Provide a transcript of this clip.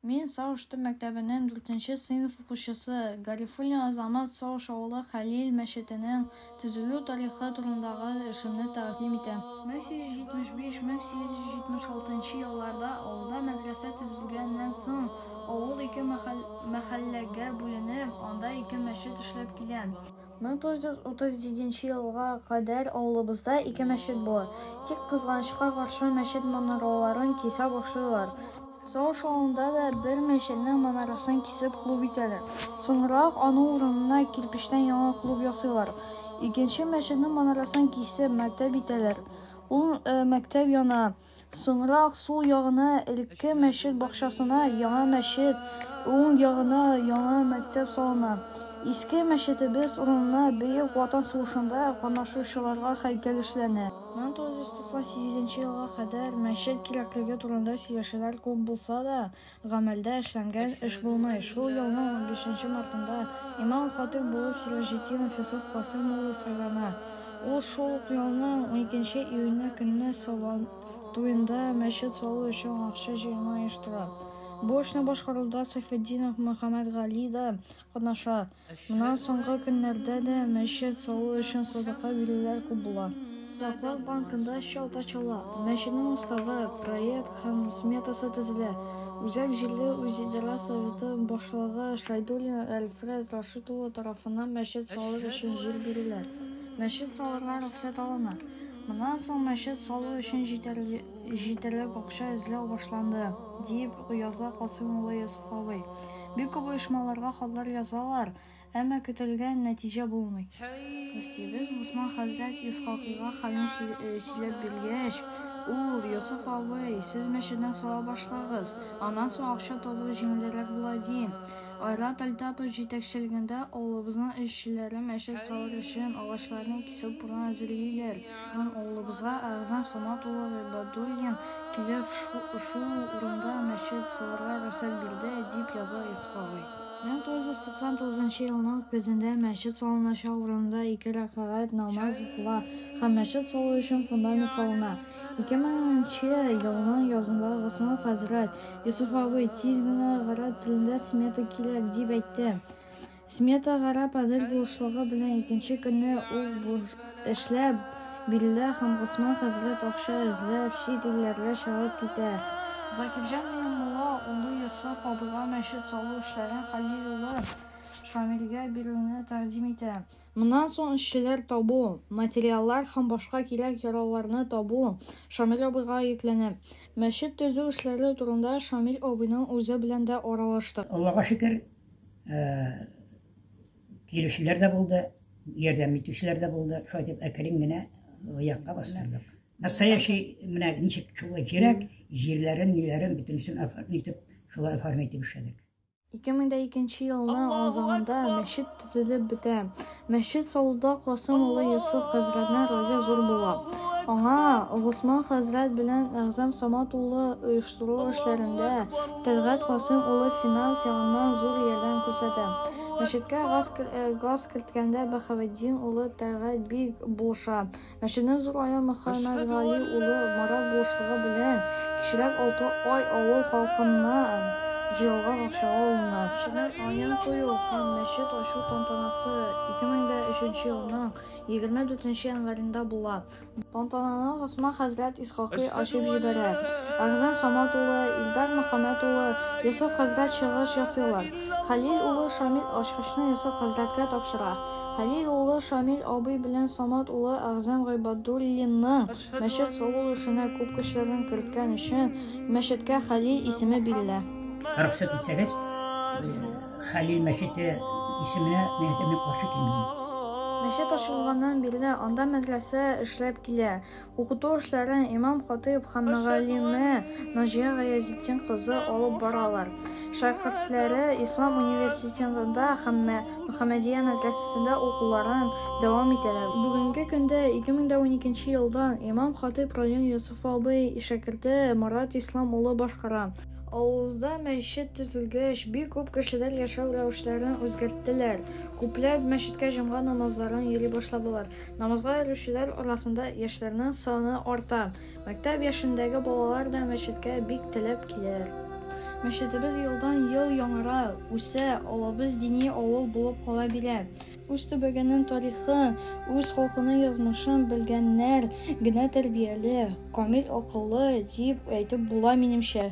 Мин Саушты мәктәбенең дүртенче сыйныф укучысы, Гарифуллин Азамат Сауш авылы Хәлил мәчетенең төзелү тарихы турындагы эшемне тәкъдим итәм. Мең сигез йөз җитмеш биш, мең сигез йөз җитмеш алтынчы елларда авылда мәдрәсә төзелгәннән соң, авыл ике мәхәлләгә бүленеп, анда ике мәчет эшләп килә. 1937 елга кадәр авылыбызда ике мәчет була. Тик кызганычка каршы, мәчет манараларын кисә башлыйлар. Сагыш авылында да бер мәчетнең манарасын кисеп клуб итәләр. Соңрак аның урынына кирпечтән яңа клуб ясыйлар. Икенче мәчетнең манарасын кисеп мәктәп итәләр. Ул мәктәп яна. Соңрак сул ягына элекке мәчет бакчасына яңа мәчет, уң ягына яңа мәктәп салына. Иске мәчетебез урынына Бөек Ватан сугышында катнашучыларга һәйкәл эшләнә. 1998 елга кадәр мәчет кирәклеге турында сөйләшүләр күп булса да, Гамәлдә эшләнгән эш булмый. Шул елның унбишенче мартында имам-хатыйб булып Сираҗетдинов Йосыф Касыйм улы сайлана. Ул шул ук елның уникенче июньне көнне Сабан туенда мәчет салу өчен акча җыюны оештыра. Бу эшне башкаруда Сайфетдинов Мөхәммәтгали да Катнаша. Моннан соңгы көннәрдә дә мәчет салу өчен садака бирүләр күп була. Саклык банкында счет ачыла, мәчетнең уставы, проект һәм сметасы төзелә. Үзәк җирле үзидарә советы башлыгы Шайдуллин Әлфрәт Рашит улы тарафыннан мәчет салыр өчен җир бирелә. Мәчет салырга рөхсәт алына. Моннан соң мәчет салу өчен җитәрлек җитәрлек акча эзләү башланды, дип яза Касыйм улы Йосыф абый. Бик күп оешмаларга хатлар язалар, әмма көтелгән нәтиҗә булмый. Мөфтиебез Госман хәзрәт Исхакыйга хәлне сөйләп биргәч, ул, Йосыф абый, сез мәчетне сала башлагыз, аннан соң акча табу җиңелрәк була, ди. Айрат Альтапов җитәкчелегендә авылыбызның эшчеләре мәчет салыр өчен агачларны кисеп урын әзерлиләр. Һәм авылыбызга Әгъзам Самат улы Гыйбадуллин килеп, шул урында мәчет салырга рөхсәт бирде, дип яза Йосыф абый. 1999 елның көзендә мәчет салыначак урында ике рәкәгать намаз укыла һәм мәчет салу өчен фундамент салына. 2000 елның язында Госман хәзрәт Йосыф абый тиз генә гарәп телендә смета кирәк дип әйтте. Смета гарап Адел булышлыгы белән икенче көнне үк эшләп бирелә һәм Госман хәзрәт акча эзләп чит илләргә чыгып китә. Закирҗан белән мулла улы Йосыф абыйга мәчет салу эшләрен Хәлил улы Шамилгә бирүне тәкъдим итә. Моннан соң эшчеләр табу, материаллар һәм башка кирәк-ярауларны табу Шамил абыйга йөкләнә. Мәчет төзү эшләре турында Шамил абыйның үзе белән дә аралаштык. Аллага шөкер, килүчеләр дә булды, ярдәм итүчеләр дә булды. Шулай дип әкрен генә якка бастырдык. Настоящий менә ничек шулай кирәк, җирләрен, ниләрен бөтенесен оформить итеп, шулай оформить итеп эшләдек. 2002 елның азагында мәчет төзелеп бетә. Мәчет салуда Касыйм улы Йосыф хәзрәтнең роле зур була. Аңа Госман хәзрәт белән Әгъзам Самат улы оештыру эшләрендә, Тәлгать Касыйм улы финанс ягыннан зур ярдәм күрсәтә. Мәчеткә газ керткәндә Баһаветдин улы Тәлгать бик булыша. Мәченең зур аян Мөхәммәд Гали улы Марат булышлыгы белән кечерәк алты ай авыл халкыннан җыелган акчага алына. Мәченең аен кую һәм мәчет ачу тантанасы 2003 елның 24 январенда була. Тантананы Госман хәзрәт Исхакый ачып җибәрә. Әгъзам Самат улы, Илдар Мөхәммәд улы, Йосыф хәзрәт чыгыш ясыйлар. Хәлил улы Шамил ачкычны Йосыф хәзрәткә тапшыра. Хәлил улы Шамил абый белән Самат улы Әгъзам Гыйбадуллинның мәчет салу эшенә күп көчләрен керткән өчен мәчеткә Хәлил исеме бирелә. Рөхсәт итсәгез, Хәлил мәчете исеменә мин әйтәм, мин каршы килмим. Мәчет ачылганнан бирле анда мәдрәсә эшләп килә. Укыту эшләрен имам-хатыйб һәм мөгаллиме Наҗия Гаязетдин кызы алып баралар. Шәкертләре Ислам университетында һәм Мөхәммәдия мәдрәсәсендә укуларын дәвам итәләр. Бүгенге көндә 2012 елдан имам-хатыйб район Йосыф абый шәкерте Марат Ислам улы башкара. Авылыбызда мәчет төзелгәч, бик күп кешеләр яшәү рәвешләрен үзгәрттеләр. Күпләп мәчеткә җомга намазларын йөри башладылар. Намазга йөрүчеләр арасында яшьләрнең саны арта. Мәктәп яшендәге балалар да мәчеткә бик теләп киләләр. Мәчетебез елдан-ел яңара, үсә, авылыбыз дини авыл булып кала бирә. Үз төбәгенең тарихын, үз халкының язмышын белгәннәр генә тәрбияле, камил акыллы дип әйтеп була, минемчә.